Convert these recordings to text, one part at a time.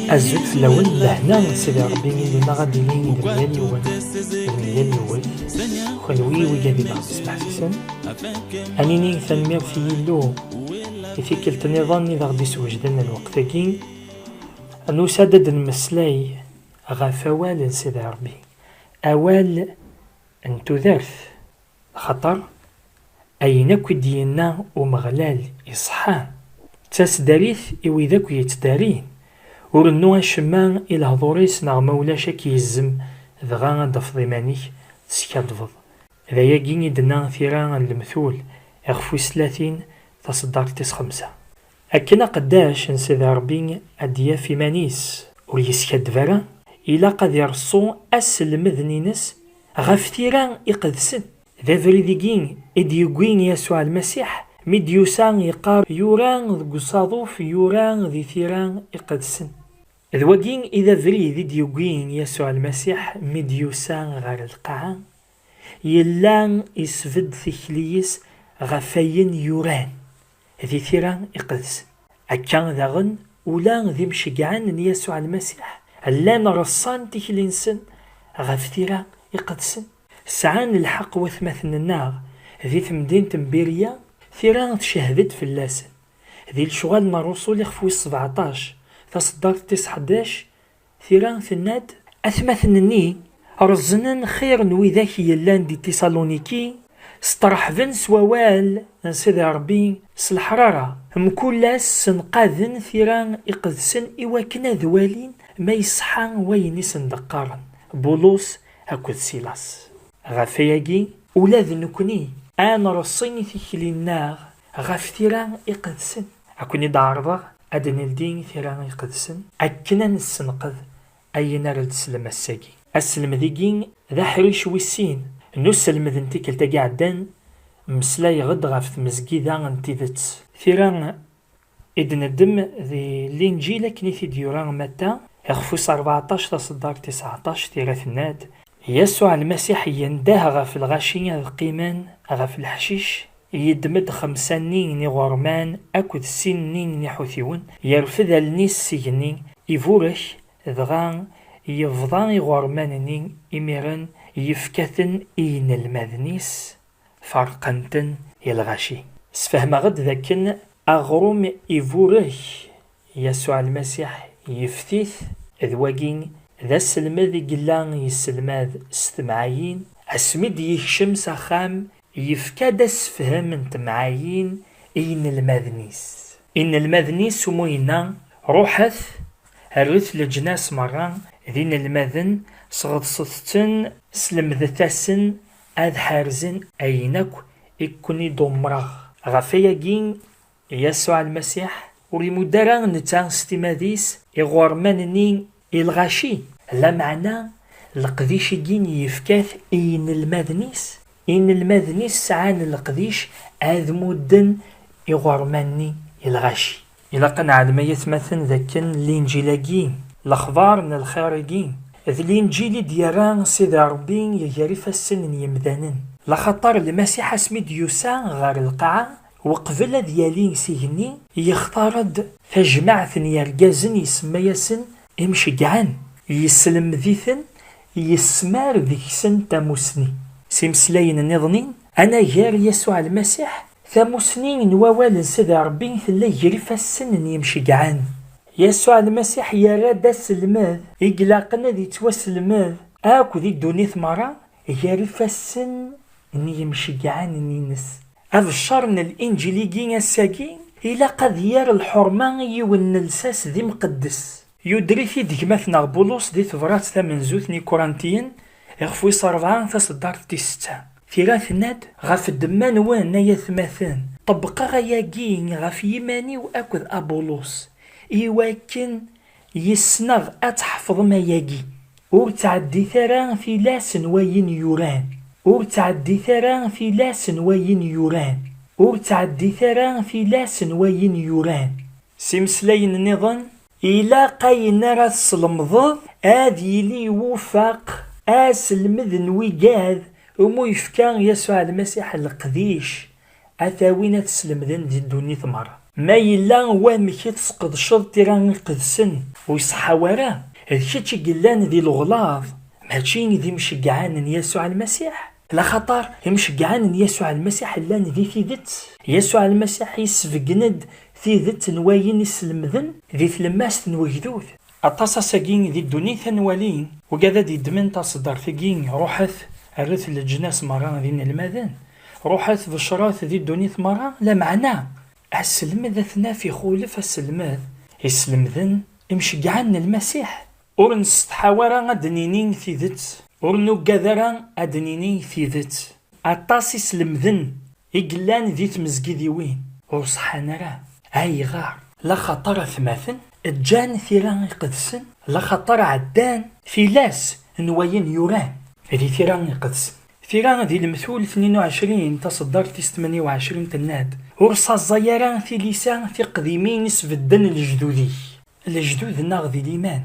Azul fell-awen, lehna n Sidi Ṛebbi ilima ad d-ilin d mgal yiwen, d mgal yiwet, kenwi wiyi d ibeɣ-d-smeḥsisen, ad nini tanemmirt i Yillu i tikkelt-nniḍen i d aɣ-d-iswejden lweqt-agi, nusa-d ad d-nemmeslay ɣef awal n Sidi Ṛebbi, awal n tudert, Axaṭer ayen akk i d-yenna Umeɣlal iṣeḥḥa, d tasdarit i wid akk yettdarin, Ur rennu acemma i lehḍur-is neɣ ma ulac ad k-yezzem, dɣa ad d-tafeḍ iman-ik teskaddbeḍ. D ayagi i d-tenna tira n Lemtul iɣef wis tlatin, taṣeddart tis xemsa. Akken aqeddac n Sidi Ṛebbi ad d-yaf iman-is ur yeskaddeb ara, ilaq ad ireṣṣu aselmeden-ines ɣef tira iqedsen. D abrid-igi i d-yewwi Yasuɛ Lmasiḥ mi d-yusa yeqqar yura deg usaḍuf yura di tira iqedsen. D wagi i d abrid i d-yewwi Yasuɛ Lmasiḥ mi d-yusa ɣer lqaɛa, yella isbedd tikli-is ɣef ayen yuran. Di tira iqedsen, akka daɣen, ula d imceggɛen n Yasuɛ Lmasiḥ llan reṣṣan tikli-nsen ɣef tira iqedsen. Sɛan lḥeqq watmaten-nneɣ di temdint n Birya, tira tcehhed-d fell-asen. Di Lecɣal n Ṛṛuṣul ixef wis sebeɛṭac, taṣeddart tis ḥdac, Tira tenna-d, Atmaten-nni reẓnen xir n widak yellan di Tisaluniki, sṭerḥben s wawal n Sidi Ṛebbi s leḥrara, mkul ass ssenqaden tira iqedsen i wakken ad walin ma iṣeḥḥa wayen i sen-d-qqaren Bulus akked Silas. Ɣef wayagi, ula d nekkni ad nreṣṣi tikli-nneɣ ɣef tira iqedsen. Ad ken-id-ɛerḍeɣ ad d-neldi tira iqedsen akken ad nessenqed ayen ara d-teslem ass-agi. Aselmed-igi d aḥric wis sin n uselmed n tikkelt-agi iɛeddan, mmeslayeɣ-d ɣef tmezgida n tidet. Tira i d-neddem d Linǧil akken i t-id-yura Matta, ixef wis rbeɛṭac taṣeddart tis ɛeṭṭac, tira tenna-d, Yasuɛ Lmasiḥ yendeh ɣef lɣaci ad qqimen ɣef leḥcic Yeddem-d xemsa-nni n iɣerman akked sin-nni n iḥutiwen, yerfed allen-is s igenni, iburek, dɣa yebḍa iɣerman-nni, imiren yefka-ten i yinelmaden-is, ferqen-ten i lɣaci. Sfehmeɣ-d dakken aɣrum iburek Yasuɛ Lmasiḥ yefti-t, d wagi d aselmed i yella yesselmad s temɛayin, asmi d-yekcem s axxam yefka-d assefhem n temɛayin i yinelmaden-is. Inelmaden-is u mu yenna, Ruḥet, rret leǧnas merra d inelmaden, sɣeḍset-ten, slemdet-asen ad ḥerzen ayen akk i ken-id-umreɣ. Ɣef wayagi Yasuɛ Lmasiḥ ur imudd ara netta s timad-is iɣurman-nni i lɣaci, lameɛna leqdic-agi yefka-t i yinelmaden-is, inelmaden-is sɛan leqdic ad mudden iɣurman-nni i lɣaci. Ilaq ad neɛlem ay atmaten d akken Linǧil-agi, lexbar n lxir-agi, d Linǧil i d-yerra Sidi Ṛebbi gar ifassen n yemdanen, laxaṭer Lmasiḥ asmi d-yusa ɣer lqaɛa Weqbel ad yali s igenni, yextar-d tajmaɛt n yergazen isemma-yasen Imceggɛen, yesselmed-iten, yesmar deg-sen tamusni. S imeslayen niḍen-in, anagar Yasuɛ Lmasiḥ, tamusni n wawal n Sidi Ṛebbi tella ger ifassen n Yimceggɛen. Yasuɛ Lmasiḥ yerra-d aselmed i ilaqen ad ittwaselmed akk di ddunit meṛṛa, gar ifassen n yimceggɛanen-ines. Abeccer n Linǧil-agi ass-agi ilaq ad yerr lḥurma i yiwen n lsas d imqeddes. Yuder-it-id gma-tneɣ Bulus di tebrat tamenzut n Ikurantiyen iɣef wis rebɛa taseddart tis setta. Tira tenna-d, Ɣef ddemma-nwen, ay atmaten, ṭebbqeɣ ayagi ɣef yiman-iw akked Abulus, i wakken Yis-neɣ ad tḥefḍem ayagi. Ur ttɛeddit ara tilas n wayen yuran. Ur ttɛeddit ara tilas n wayen yuran. Ur ttɛeddit ara tilas n wayen yuran. S imeslayen nniḍen. Ilaq ayen ara teslemdeḍ ad yili iwufeq aselmed n wigad umi yefka Yasuɛ Lmasiḥ leqdic A t-awin a t-slemden di ddunit merra. Ma yella wamek i tesqedceḍ tira iqedsen. Ur iṣeḥḥa wara, d kečč i yellan di leɣlaḍ, mačči d imceggɛen n Yasuɛ Lmasiḥ? Laxaṭer imceggɛen n Yasuɛ Lmasiḥ llan di tidet. Yasuɛ Lmasiḥ yessebgen-d tidet n wayen i slemden di tlemmast n wegdud. Aṭas ass-agi di ddunit a nwali wgad ad yeddmen taseddart-agi, ruḥet, rret leǧnas merra d inelmaden. Ruḥet becṛet di ddunit meṛṛa, lameɛna aselmed ad t-naf ixulef aselmed i slemden imceggɛen n Lmasiḥ. Ur nsetḥaw ara ad d-nini tidet, ur nuggad ara ad d-nini tidet. Aṭas iselmden i yellan di tmezgidiwin ur ṣeḥḥan ara. Ayɣer? Laxaṭer atmaten ǧǧan tira iqedsen, laxaṭer ɛeddan tilas n wayen yuran di tira iqedsen. Tira di lemtul tnin u ɛecrin, taṣeddart tis tmanya u ɛecrin tenna-d, Ur ssaẓẓay ara tilisa tiqdimin i sbedden lejdud-ik, lejdud-nneɣ di liman,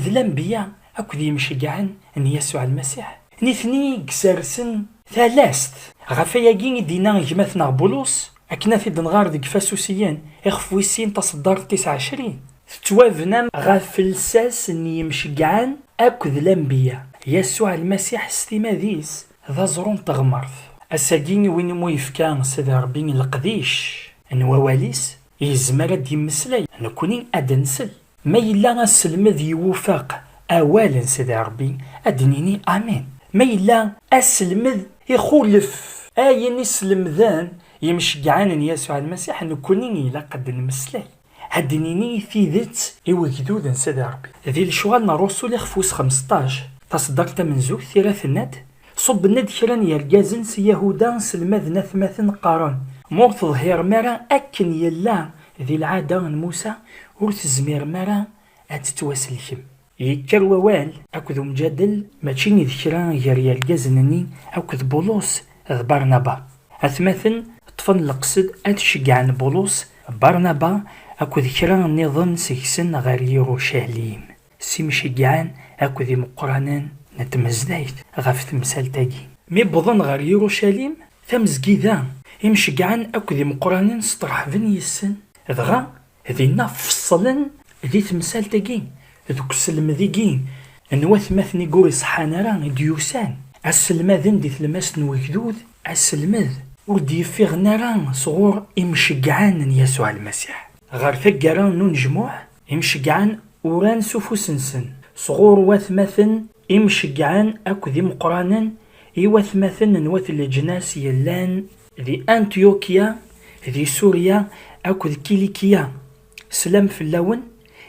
d lanbeyya akked yimceggɛen n Yasuɛ Lmasiḥ, nitni i isersen talast. Ɣef wayagi i d-yenna gma-tneɣ Bulus, Akken ad t-id-nɣer deg Ifasusiyen, ixef wis sin, taṣeddart tis ɛecrin. Tettwabna ɣef lsas n yimceggɛen akked lanbiya. Yasuɛ Lmasiḥ s timad-is d aẓru n teɣmert. Ass-agi i win imu yefka Sidi Rebbi leqdic n wawal-is, yezmer ad d-yemmeslay, nekkni ad d-nsel. Ma yella aselmed iwufeq awal n Sidi Ṛebbi, ad d-nini amin. Ma yella aselmed ixulef ayen i slemden yimceggɛen n Yasuɛ Lmasiḥ, nekkni ilaq ad d-nemmeslay, ad d-nini tidet i wegdud n Sidi Ṛebbi. Di Lecɣal n Ṛṛusul ixef wis xemseṭṭac, taṣeddart tamenzut tira tenna-d, Ṣubben-d kra n yergazen si Yahuda, sselmaden atmaten, qqaren. Ma ur teḍhirem ara akken yella di lɛada n Musa, ur tezmirem ara ad tettwasellkem. Yekker wawal akked umjadel mačči d kra gar yergazen-nni akked Bulus d Barnaba. Atmaten ṭṭfen leqsed ad ceggɛen Bulus, Barnaba akked kra nniḍen seg-sen ɣer Yirucalim. s imceyɛen akked imeqqranen n tmezdayt ɣef temsalt-agi. Mi wwḍen ɣer Yirucalim, tamezgida, imceyɛen akked imeqqranen sṭerḥben yes-sen, dɣa dinna feṣṣlen di temsalt-agi, deg uselmed-igi n watmaten-igi ur iṣeḥḥan ara i d-yusan, ad selmaden di tlemmast n ugdud, aselmed ur d-yeffiɣen ara sɣur imceyɛen n Yasuɛ Lmasiḥ. Ɣer taggara n unejmuɛ, Imceggɛen uran s ufus-nsen sɣur watmaten imceggɛen akked imeqqranen, i watmaten n wat leǧnas yellan di Antyukya, di Surya akked Kilikya, slam fell-awen,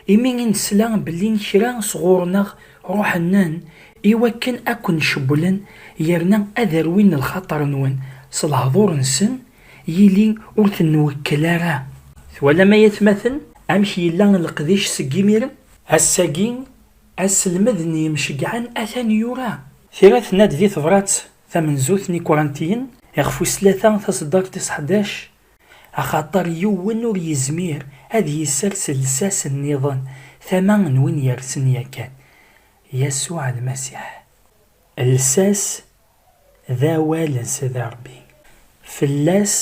imi i nesla belli kra sɣur-neɣ ruḥen-nen i wakken a ken-cewwlen yerna ad rwin lxaṭer-nwen s lehdur-nsen Yili ur ten-nwekkel ara. Twalam ay atmaten amek yella leqdic seg imiren? Ass-agi, aselmed n yimceggɛen atan yura. Tira tenna-d di tebṛat tamenzut n Ikurantiyen iɣef wis tlata taseddart tis ḥdac, Axaṭer yiwen ur yezmir ad yessers llsas nniḍen tama n win yersen yakan, Yasuɛ Lmasiḥ. Llsas d awal n Sidi Ṛebbi. Fell-as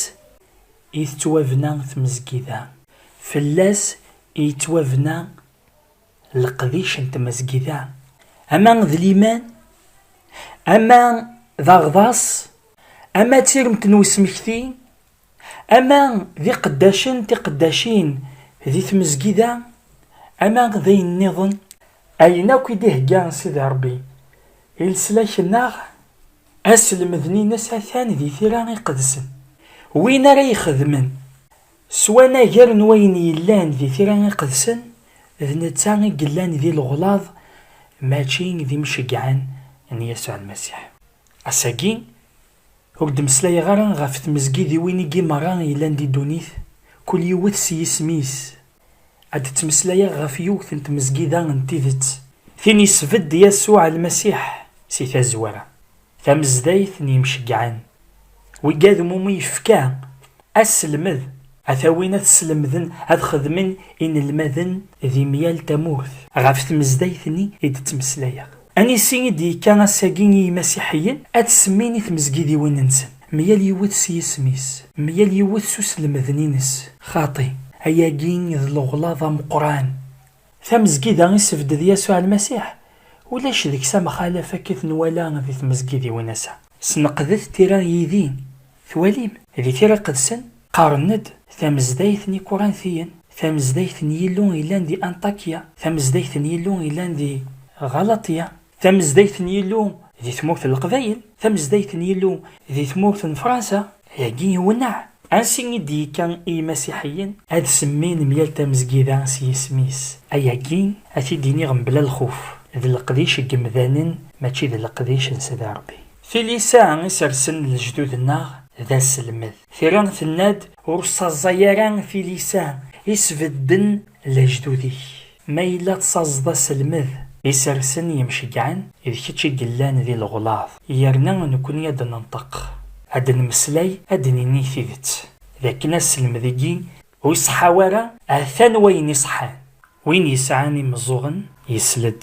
i tettwabna tmezgida, fell-as i yettwabna leqdic n tmezgida, ama d liman, ama d aɣḍas, ama d tiremt n usmekti, Ama d iqeddacen tiqeddacin di tmezgida, ama d ayen nniḍen. Ayen akk i d-ihegga Sidi Rebbi i leslak-nneɣ. Aselmed-nines atan di tira iqedsen. Win ara ixedmen s wanager n wayen yellan di tira iqedsen, d netta i yellan di leɣlaḍ mačči d imceggɛen n Yasuɛ Lmasiḥ. Ass-agi, Ur d-mmeslayeɣ ara ɣef tmezgidiwin-igi merra yellan di ddunit, kul yiwet s yisem-is. Ad d-ttmeslayeɣ ɣef yiwet n tmezgida n tidet, tin yesbedd Yasuɛ Lmasiḥ si tazwara, tamezdayt n yimceggɛen, wiggad mumi yefka aselmed ad t-awin ad t-slemden ad xedmen inelmaden di myal tamurt. Ɣef tmezdayt-nni i d-ttmeslayeɣ. Anisi i d-yekka ass-agi i yimasiḥiyen, ad t-semmin i tmezgidiwin-nsen, myal yiwet s yisem-is, myal yiwet s uslemden-ines. Xaṭi, ayagi d leɣlaḍ ameqqran! Tamezgida i sebded Yasuɛ Lmasiḥ, ulac deg-s amxalaf akka i t-nwala di tmezgidiwin ass-a. Sneqdet tira yid-i, twalim? Di Tira Iqedsen, qqaren-d, Tamezdayt n Ikurantiyen, tamezdayt n Yillu yellan di Anṭakya, tamezdayt n Yillu yellan di Ɣalaṭya, tamezdayt n Yillu di tmurt n Leqbayel, tamezdayt n Yillu di tmurt n Fransa, Dagi iwenneɛ. Ansi i d-yekka i yimasiḥiyen? Ad semmin myal tamezgida s yisem-is. Ayagi, ad t-id-iniɣ mebla lxuf, d leqdic n yemdanen mačči d leqdic n Sidi Rebbi. Tilisa i sersen lejdud-nneɣ d aselmed. Tira tenna-d, Ur ssaẓay ara tilisa i sbedden lejdud-ik. Ma yella tsaẓeḍ aselmed. Isersen yemceggɛen, d kečč i yellan di leɣlaḍ, yerna nekni ad d-nenṭeq, ad d-nemmeslay, ad d-nini tidet, d akken aselmed-igi ur iṣeḥḥa ara, ha-t-an wayen iṣeḥḥan. Win yesɛan imeẓẓuɣen yesl-d,